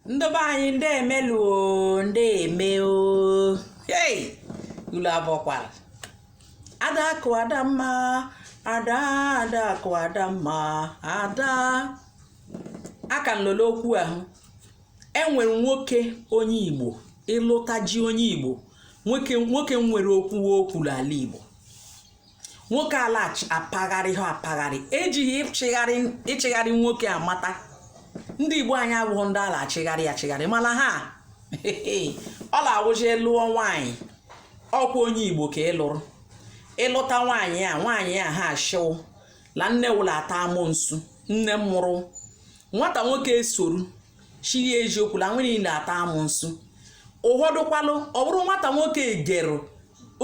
ndị be anyị ndeme lụ o ndeme o hey ụlụ abọọkwala ada akụ ada mma ada ada akụ ada mma ada aka nọ la okwu ahụ enwere nwoke onye igbo ị lụtaji onye igbo nwoke nwoke nwere okwu o kwuru ala igbo nwoke a la-apagharịha apagharị ejighị ịchịgharị nwoke amata ndị igbo anyị abụghị ndị a la-achịgharị achịgharị mala ha ọ la-awụzi lụọ nwaanyị ọkwa onye igbo ka ị lụrụ ị lụta nwaanyị a nwaanyị a ha ashị wụ la nne wụ la-ata amụnsu nne mụrụ nwata nwoke esoro shị ya eziokwu la nne i la-ata amụnsu ụfọdụkwalụ ọ bụrụ nwata nwoke egerụ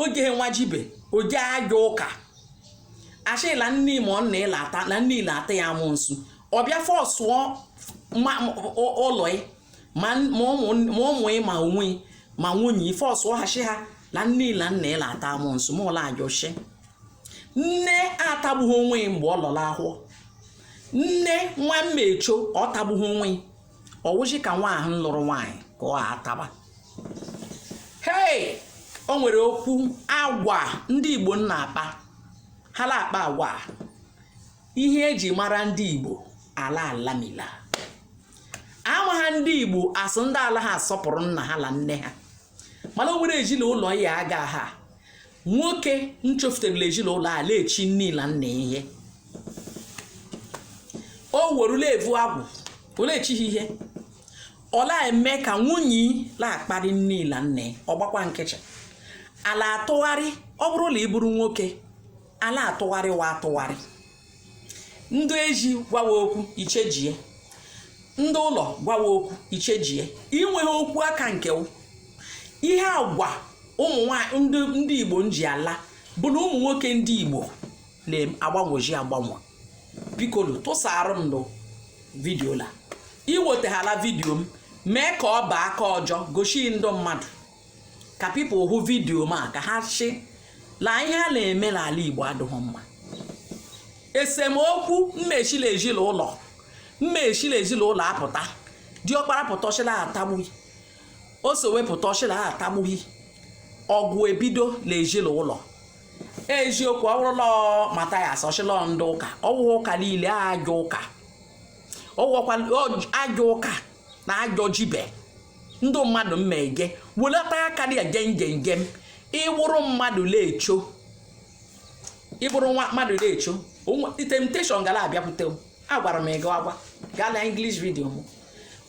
oge nwajibe ọ jaa ajọ ụka ashị la nne ma ọ nna i la-ata la nne i la-ata ya amụnsu ọ bịa fọsụọ ụlọ ma ụmụ ị ma onwe ma nwunye fọsụọ ha shi ha la nne i la nna i la-ata amụnsu mala ajọshi nne atagbughị onwe mgbe ọ lọ la ahọ nne nwa mmecho ọ tagbughị onwe ọ wụzi ka nwa ahụ lụrụ nwaanyị ka ọ ataba hei o nwere okwu agwa ndị igbo na-akpa ha la-akpa agwa ihe eji mara ndị igbo ala alamila ama ha ndị igbo asụ ndị alaha asọpụrụ nna ha la nne ha mala o nwere ezilaụlọ ya aga ha nwoke nchọfutere la ezilaụlọ a la-echi nne la nna ihe ọ wụrụ la evu agwụ ọ la-echighị ihe ọ la-eme ka nwunye la-akparị nne la nna ọ gbakwa nkịchị a la-atụgharị ọ bụrụ la ị bụrụ nwoke a la-atụgharị wa atụgharị ndị ezi gwawa okwu i chejie ndị ụlọ gwawa okwu i chejie i nweghị okwu aka nke ihe agwa ụmụ nwanyị ndị igbo nji ala bụ na ụmụ nwoke ndị igbo la-agbanwezi agbanwe bikolụ tụsaara m lụ vidio la i wetahala vidio m mee ka ọ baa aka ọjọ goshi ndị mmadụ ka people hụ vidiyo m a ka ha shị la ihe a la-eme l'ala igbo adịghị mma esemokwu mmeshi la ezilaụlọ mmeshi la ezilaụlọ apụta diọkpara pụta shị la atagbughị osowe pụta shị la atagbughị ọgụ ebido la ezilaụlọ eziokwu ọ wụrụ la matayas ọ shị la ndị ụka ọ wụwa ụka lile ajọ ụka ọ wụwakwa ajọ ụka na ajọ jibe ndị mmadụ mmege welata aka dị gem gem gem ị wụrụ mmadụ lecho ị bụrụ nwa mmadụ lecho temptation ga la-abịakwute agwara m gị agwa gaa na English radio m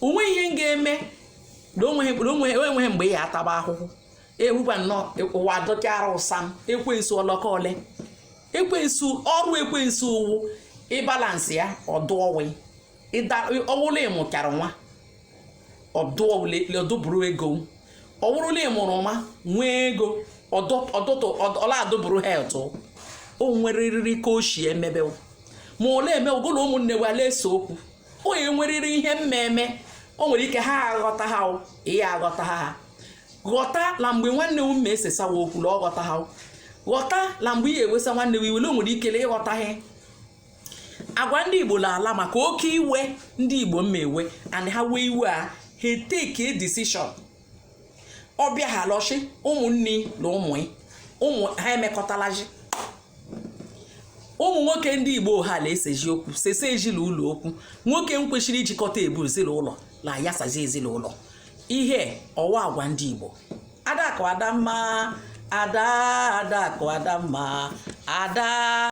o nwee ihe m ga-eme na o nweghị mgbe ị ya ataba ahụhụ ewukwa nnọọ ụwa dọchara ụsa m ekwensu ọlọkọ ole ekwensu ọrụ ekwensu wụ ịbalance ya ọdụ ọwụ ọ wụ la ị mụchara nwa ọdụbụrụ ego ọ wụrụ la ị mụrụ nwa nwee ego ọdụtụ ọla adụbụrụ health o nweriri ka o si emebe ma ole eme ụgụlụ ụmụnne la-ese okwu onye nweriri ihe mmemme o nwere ike ha aghọta ha ihe aghọta ha ha ghọta na mgbe nwanne m ma esesawa okwu na ọ ghọta ha ghọta na mgbe ị ga-ewesa nwanne m iwe le o nwere ike le ị ghọtaghị agwa ndị igbo la-ala maka oke iwe ndị igbo ma ewe and ha wee iwe a ha take decision ọ bịa ha l'ishi ụmụnne na ụmụ ụmụ ha emekọtalazị ụmụ nwoke ndị igbo ha la-esezi okwu sese ezinụlọ okwu nwoke m kwesịrị ijikọta ebu ezinụlọ la ya sazi ezinụlọ ihe ọwa agwa ndị igbo adakụ adamma ada adakụ adamma ada